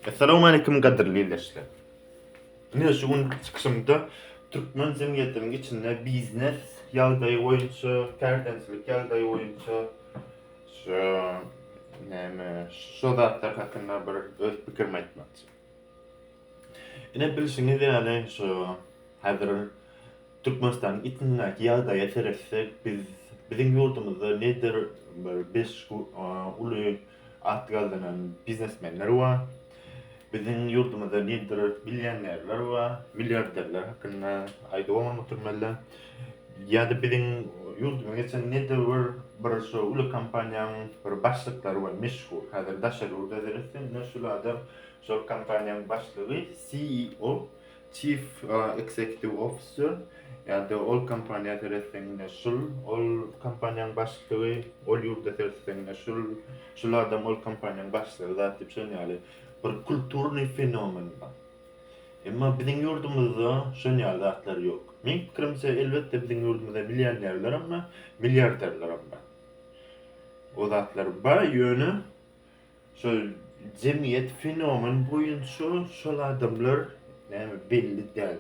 Assalamu aleykum gadyrly ildeşler. Ine şu gün çykyşymda türkmen jemgyýetiniň içinde biznes ýagdaýy boýunça, kärendeçilik ýagdaýy boýunça şu näme şu zatlar hakynda bir öz pikirimi aýtmakçy. Ine bilşiňiz ýaly şu häzir Türkmenistanyň içindäki ýagdaýa seretsek biz biziň ýurdumyzda nedir bir beş uly At gazanan biznesmenler bar. Biziň ýurdumyzda nedir millionerler bar, milliarderler hakynda aýdyp bolan oturmaly. Ýa-da biziň ýurdumyza geçen nedir bir bir şu uly kompaniýanyň bir başlyklary bar, meşhur. Häzir daşary ýurda seretseň, ine şul adam şol kompaniýanyň başlygy, CEO, Chief Executive Officer, ýa-da ol kompaniýa seretseňňe şul, ol kompaniýaň başlygy, ol ýurda seretseňňe şul, şul adam ol kompaniýaň başlygy zat diýip şon ýaly bir kulturnyý fenomen bar. Emma biziň ýurdumyzda şon ýaly zatlar ýok. Meň pikirimçe elbetde biziň ýurdumyzda millionerlerim bar, milliarderlerim bar. O zatlar bar ýöne Şol jemgyýet fenomen boýunça şol adamlar näme belli däl.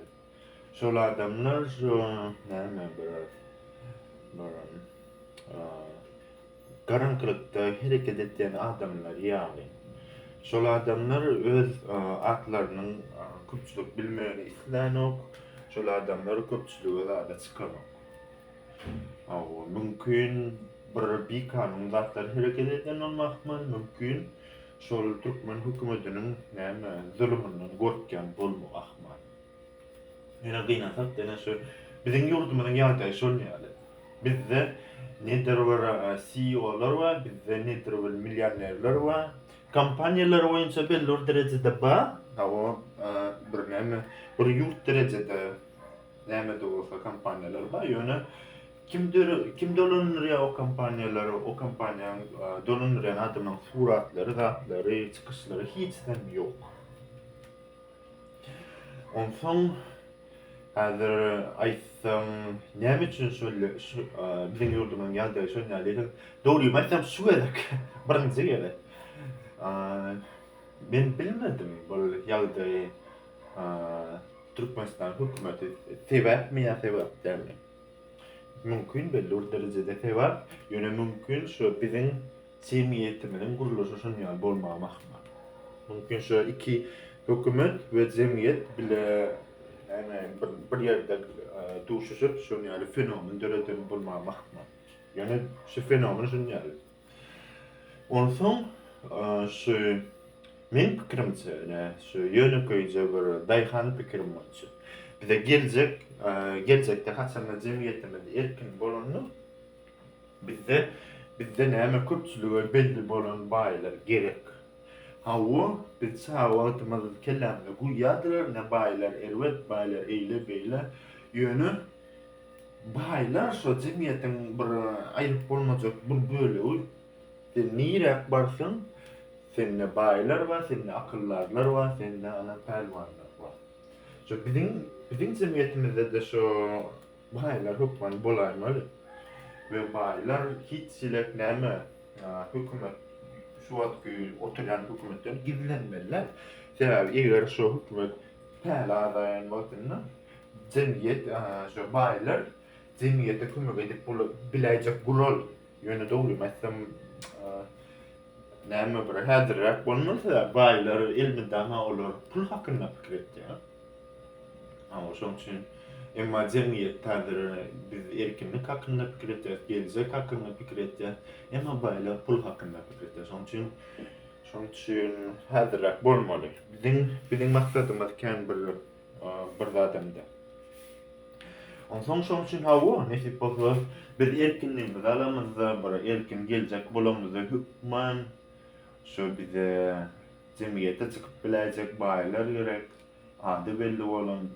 Şol adamlar şu näme biraz bir garaňkylykda hereket etýän adamlar ýaly. Şol adamlar öz atlarynyň köpçülik bilmegini islänok. Şol adamlar köpçülige zada çykanok. Hawa, mümkin bir bikanun zatlar hereket eden bolmakmy? Mümkin şol türkmen hökümetiniň näme zulumyndan gorkýan bolmak ahmal. Ýöne gynasak dene şu biziň ýurdumyzyň ýagdaýy şol ýaly. Bizde nedir bir CEO-lar bar, bizde nedir bir millionerler bar. Kompaniýalar boýunça belli bir derejede bar. Hawa, bir näme bir ýurt derejede Nämede bolsa kompaniýalar bar, ýöne kim kim dolandyrýar o kompaniýalary, o kompaniýanyň dolandyrýan adamynyň suratlary, zatlary, çykyşlary hiç zat ýok. Onsoň häzir aýtsaň, näme üçin şol biziň ýurdumyzyň ýagdaýy şol ýaly? Dogrymy aýtsam şu gezek, birinji gezek. Men bilmedim bu ýagdaýy. Türkmenistan hökümeti sebäpmi ýa sebäp dälmi? Mümkin belli bir derejede sebäp, ýöne mümkin şu biziň jemgyýetimiziň gurluşy şonuň ýaly bolmagy hem ahmal. Mümkin şu iki hökümet we jemgyýet bile ýagny bir bir ýerde duşuşyp şonuň ýaly fenomen döreden bolmagy hem ahmal. Ýöne şu fenomen şunuň ýaly. Onsoň şu meň pikirimçe, ine, şu ýönekeýje bir daýhan pikirim bolçy. Bize geljek, geljekde haçanda jemgyýetimiz erkin bolanda, bizde, bizde näme köpçülige belli bolan baýlar gerek. Hawa, biz çaga wagtymyz kellämize guýýardylar, ine, baýlar erbet, baýlar eýle-beýle. Ýöne Baýlar şo jemgyýetiň bir aýryp bolmajak bir bölegi. Sen niräk barsaň, sende baýlar bar, sende akyldazlar bar, sende ana pälwanlar bar. Şo biziň biziň jemgyýetimizde-de şo baýlar hökman bolaýmaly. We baýlar hiç çilek näme hökümet şu wagtky oturýan hökümetden gizlenmeliler. Sebäbi eger şo hökümet päli azaýan wagtynda jemgyýet şu baýlar jemgyýete kömek edip biläýjek gural ýöne dogrymy aýtsam näme bir häzirräk bolmasa baýlar elmydama olar pul hakynda pikir etýär ha şoň üçin emma jemgyýet häzir biz erkinlik hakynda pikir etýäs geljek hakynda pikir etýäs emma baýlar pul hakynda pikir etýär şoň üçin şoň üçin häzirräk bolmaly biziň biziň maksadymyz kän bir bir zadam-da. Onsoň şonuň üçin hawa, nesip bolsa, biz erkinligimizi alamyzda, bir erkin geljek bolamyzda hökman şu bize jemgyýete çykyp biläýjek baýlar gerek, ady belli bolan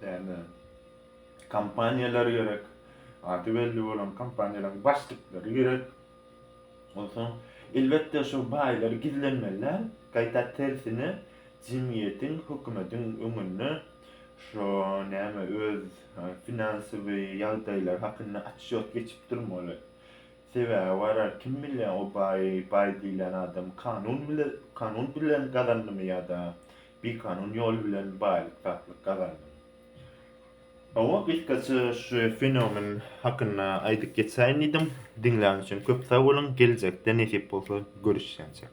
däne kompaniýalar gerek, ady belli bolan kompaniýalaryň başlyklary gerek. Onsoň, elbetde, şo baýlar gizlenmeli däl, gaýta tersine, jemgyýetiň, hökümetiň öňünde şo, näme, öz finansowy ýagdaýlary hakynda otçýot geçip durmaly. Sebäbi barar, kim bilýär, o baý, baý diýlen adam kanun bile, kanun bilen gazandymy ýa-da bikanun ýol bilen baýlyk-satlyk gazandymy. Hawa, gysgaça şu fenomen hakynda aýdyp geçäýin diýdim. Diňlän üçin köp sag boluň, geljekde nesip bolsa görüşýänçek.